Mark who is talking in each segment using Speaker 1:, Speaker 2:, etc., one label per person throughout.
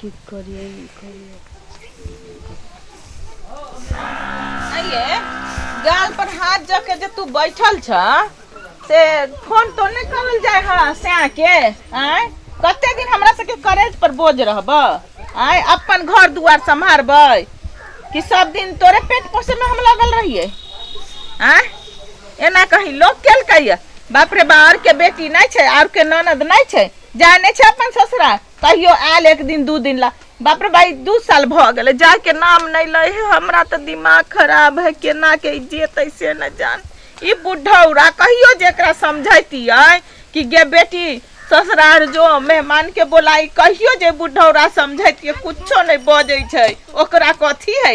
Speaker 1: की करिए ई करिए
Speaker 2: आइए गाल पर हाथ जब के जे तू बैठल छ से फोन तो नहीं करल जाए है से आके आय कते दिन हमरा सबके करेज पर बोझ रहब आय अपन घर दुआर संभारबै कि सब दिन तोरे पेट पोसे में हम लगल रहिए आय एना कहीं लोग केल कहिए बाप रे बा और के बेटी नहीं छै और के ननद नहीं छै जाने छै अपन ससुरा कहियो आयल एक दिन दू दिन ला बाप रे भाई दू साल भऽ गेलै जाके नाम नहि लै है हमरा तऽ दिमाग खराब है केना के जेतै से न जान ई बुढ़ौरा कहियो जेकरा समझैतियै कि गे बेटी ससुरार जो मेहमान के बोलाई कहियो जे बुढ़ौरा समझैतियै कुछो नहि बजै छै ओकरा कथी है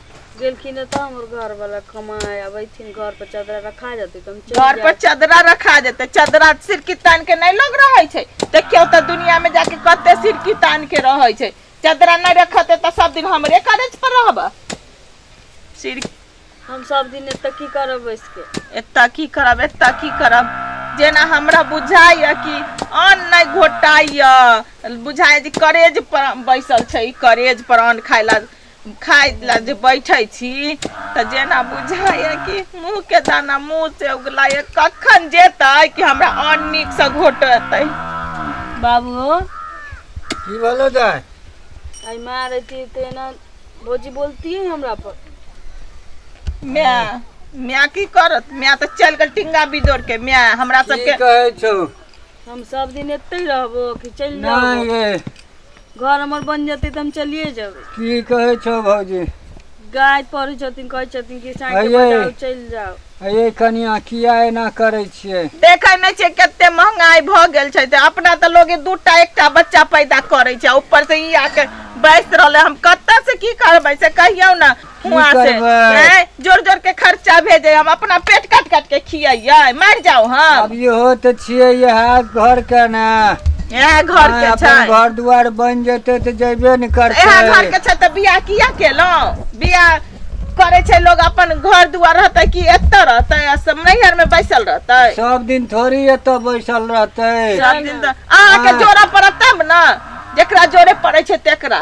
Speaker 2: गेलखिन है तो
Speaker 1: हमर घर वाला कमाए अब अथिन घर पर चादरा रखा जाते तो हम चल घर पर चादरा
Speaker 2: रखा जेते चादरा सिरकी तान के नहीं लोग रहे छे देखियो तो दुनिया में जाके कते सिरकी तान के रहे छे चादरा नहीं रखते तो सब दिन हमरे करेज पर रहब सिर हम
Speaker 1: सब दिन एत की करब बैस के एत की करब एत
Speaker 2: की करब जेना हमरा बुझाइए कि अन्न नहीं घोटाइए बुझाइए जे करेज पर बैसल छै करेज पर अन्न खाइला खाय ला जे बैठे छी तऽ जेना बुझाइए कि मुँह के दाना मुँह से उगलाइए कखन जेतै कि हमरा अन्न नीक से घोटतै बाबू
Speaker 3: की बोलो जाए आई माँ
Speaker 1: रहती तो ना भौजी बोलती है हमरा पर माय
Speaker 2: माय की करत माय तऽ चल गेल टिंगा बिदोर के माय हमरा की सबके कहै छौ
Speaker 3: हम सब
Speaker 1: दिन एते रहबो कि चलि जाबो नहीं गे
Speaker 3: घर हमर
Speaker 1: बन जेतै तऽ हम चलिए जेबै की कहै छौ
Speaker 3: भौजी गाय पढ़ै
Speaker 1: छथिन कहै छथिन कि साँझ अये। बजाउ चलि जाउ अये कनिया
Speaker 3: किया एना करै छियै देखै नहि छै कते
Speaker 2: महंगाई भऽ गेल छै तऽ अपना तऽ लोग दू टा एकटा बच्चा पैदा करै छै ऊपर से ई आके बैस रहले हम कतऽ से की करबै से कहियौ ने हुआ से करबै? हैं? जोर जोर के खर्चा भेजे हम अपना पेट काट काट के खियाइए मार जाओ हम अब इहो तऽ छियै
Speaker 3: इएह घर के ने यहाँ घर
Speaker 2: हाँ, के अपन छै घर दुआर बन
Speaker 3: जेतै तऽ जेबे ने यहाँ घर करतै के छै तऽ बियाह
Speaker 2: किया केलहुँ बियाह करे छै लोग अपन घर दुआर रहते कि एतऽ रहते आ सब नैहर में बैसल रहते सब दिन थोड़ी
Speaker 3: एतऽ बैसल रहतै सब दिन तऽ
Speaker 2: अहाँके हाँ। जोड़ा पड़त तब ने जेकरा जोड़े पड़े छै तेकरा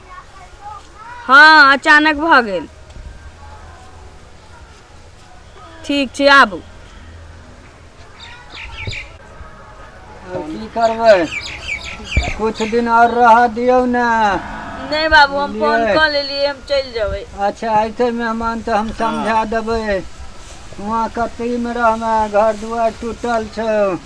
Speaker 1: हँ अचानक भऽ गेल ठीक छै आबू
Speaker 3: आब की करबै कुछ दिन और रह दियौ ने नहि बाबू
Speaker 1: हम फोन बुझलियै। कऽ लेलियै हम चलि जेबै अच्छा ऐसे
Speaker 3: मेहमान तऽ हम समझा देबै वहाँ कतईमे रहमे घर दुआर टूटल छौ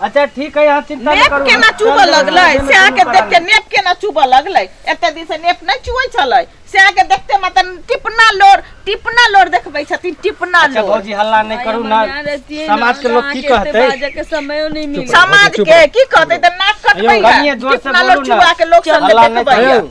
Speaker 4: अच्छा ठीक है यहाँ चिंता न नेप करू केना हम चुबऽ चल जेबै, लगलै
Speaker 2: हम से अहाँके जेबै, देखते नेप केना चुबऽ लगलै एते दिन से नेप नहि चुबै छलै से अहाँके देखते मतलब टिपना लोर टिपना लोर देखबै छथिन टिपना अच्छा लोर भौजी हल्ला नहीं
Speaker 4: करू
Speaker 2: ना
Speaker 4: समाज के लोग की कहते के समयो नहीं
Speaker 1: मिले समाज चुप के रह। की
Speaker 2: कहतै तऽ नाक कटबै अयौ, कनिये जोर से टिपना लोर
Speaker 4: बोलू ने। चुबा के लोक सब हल्ला
Speaker 2: नहि देखबै करू।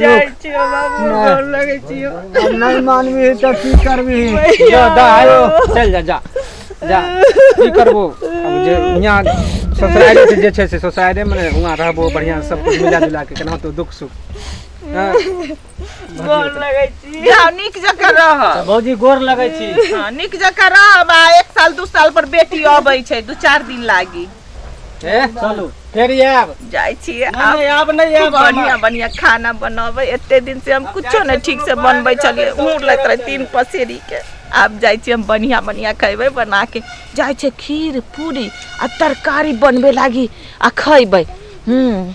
Speaker 3: जाइ
Speaker 2: छियो बाबू नहि। गोर लगै छियो अब नहीं मानवी
Speaker 3: है तो की करवी है भैया। जा दा आयो
Speaker 5: चल जा जा जा की करबो अब जे यहाँ ससुराल से जे छै से ससुराले में वहाँ रहबो बढ़िया से सब कुछ मिला जुला के केना तो दुख सुख हाँ।
Speaker 2: गोर लगै छी जाओ नीक जकाँ रह भौजी गोर लगै
Speaker 4: छी हाँ, नीक जकाँ रह
Speaker 2: बा एक साल दू साल पर बेटी अबै छै दू चार दिन लागी ए चलू
Speaker 4: फेर आयब
Speaker 5: जाइ छियै
Speaker 2: नहीं, आब नहीं,
Speaker 4: आब नहीं आयब बढ़िया मामा।
Speaker 2: बढ़िया खाना बनाबे एते दिन से हम कुछो नहीं ठीक से बनबै छलियै उड़ लैत रहे तीन पसेरी के आब जाइ छियै हम बढ़िया बढ़िया खैबै बना के जाइ छै खीर पूरी आ तरकारी बनबे लागी आ खैबै हूँ